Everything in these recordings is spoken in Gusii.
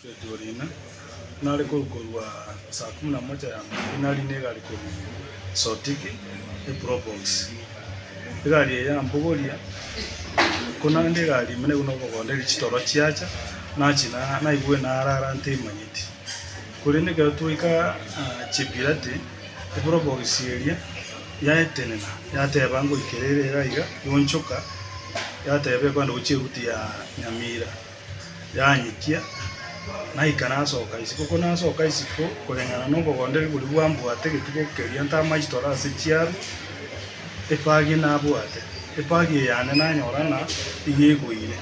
Bethuel ime, nare korwa korwa saa kumi na mocha ya maambia nari negari korwa Sotiki e Probox. Egari eye yambogoria, ko naende egari ime naigo nokogonderia chitoro chiacha, nachi na naigwe narara ntemanyeti. Korende ekero twaika Chepirate, e Probox eria yaetenena yateba ngoikera ere iga iga, yonchoka yateba ekwande gochia eruti ya Nyamira. yanyitia, naikara nsoka isiko. Ko nasoka isiko, koreng'ana nobogondereria boria bwambwate egetugo keria ntamache tore ase chiaru, epagi nabwate, epagi eye yane nanyora ng'a nigo egoire.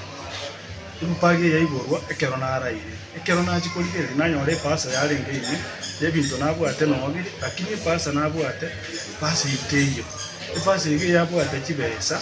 Empagi eye yaiborwa ekero naraire, ekero nachia korigereria nanyora ebasa yarenge ime na ebinto nabwate nonya bire, lakini ebasa nabwate, ebasa eye teiyo. Ebasa iga eyabwate chibesa.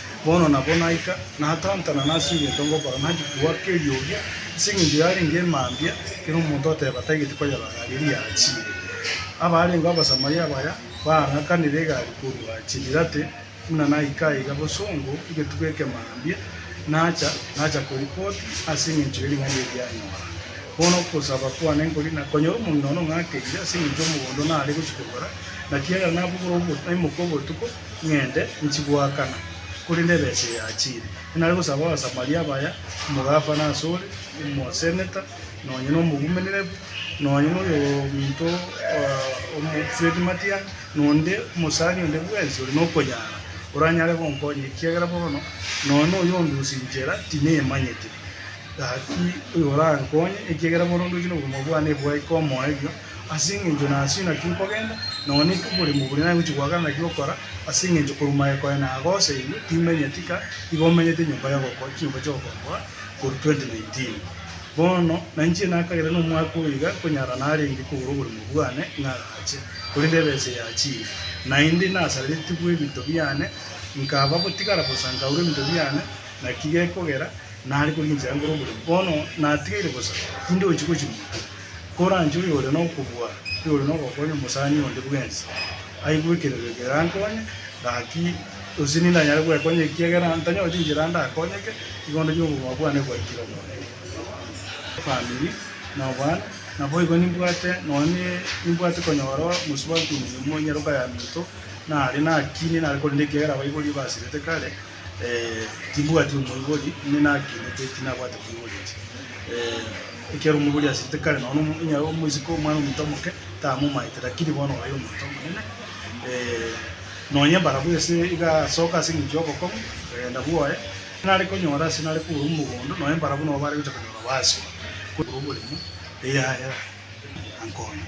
Bono nabo naika, natantana nase egento ngokora, nanchi kogwa keriogi, ase engencho yarenge emambia, ekero omonto oteba tagete koyerora egari eria yachiire. Abarenge Abasamaria abaya baang'akanire egari korwa Chibirate, buna naika aiga bosongo egetuba eke mambia, nacha, nacha koripoti ase engencho ye ring'ana eri yanyora. Bono ogosaba kwane nkori na konyora omong'ina one ong'akeire ase engencho y'omogondo nare gochia kogora, naki ekero nabugora obo- naimoka obotuko, ng'ende nchigoakana, korende ebesa eye yachiire. Inare gosaba Abasamaria abaya, omogafana asore, omoseneta, nonya nomogumenerebu, nonya noyominto omofredi matiang', nonde omosani onde bwensi ore nokonyara, oranyare gonkonya, ekiagera bono nonya noyonde ase inchera tineyemanyete. Gaki oyorankonye, ekiagera bono ndoche nobogima bwane bwaika omoerio. Ase engencho nasio naki nkogenda, nonya nekiborimo boria nagochia goakana naki gokora, ase engencho korwa maega kwaye nagoseiwe, timenya tika igo omenyete enyomba y'ogoko chinyomba chi'ogokombora korwa 2019. Bono nanchire nakagera nomwaka oyo iga konyara narenge kogora oborimo bwane ng'agache, korende ebesa eyachire, naende nasarereti bw'ebinto biane, nkaba gotigara bosa nkaurwa ebinto biane, naki gekogera nare korwa enchera nkore oborimo. Bono natigaire bosa, tindi ochi gochia monto. Koranche oyore nokobua, oyore nogokonya omosani onde bwensi, aigwe ekerego eke erankonye, gaki gose ninde nanyare gwekonya ekiagera ntanyoreti enchera ndakonyeke, igo ndoche obogima bwane bwaikire Omonene. Efamiri na obwana, naboigo nimbwate nonya ne nimbwate konyora omosubati omuya omonyaroka ya minto, nare nakine nare korenda ekiagera abaibori ebasirete kare, Ee, timbwati omoibori, inwe nagenete tinabwate omoiboreti. Ee, ekiagera omoibori asirete kare nono omo, onye abe omoiseke omwana omonto omoke, tamomaete, rakini bono obaire omonto omonene. Ee, nonye mbarabwo ase iga asoka ase eng'encho y'obokong'u, okagenda bwoye, nare konyora ase nare kogura omogondo, nonye mbarabwo nabo bare gocha konyora baswa, korwa oboremo, eyaya, ankonye.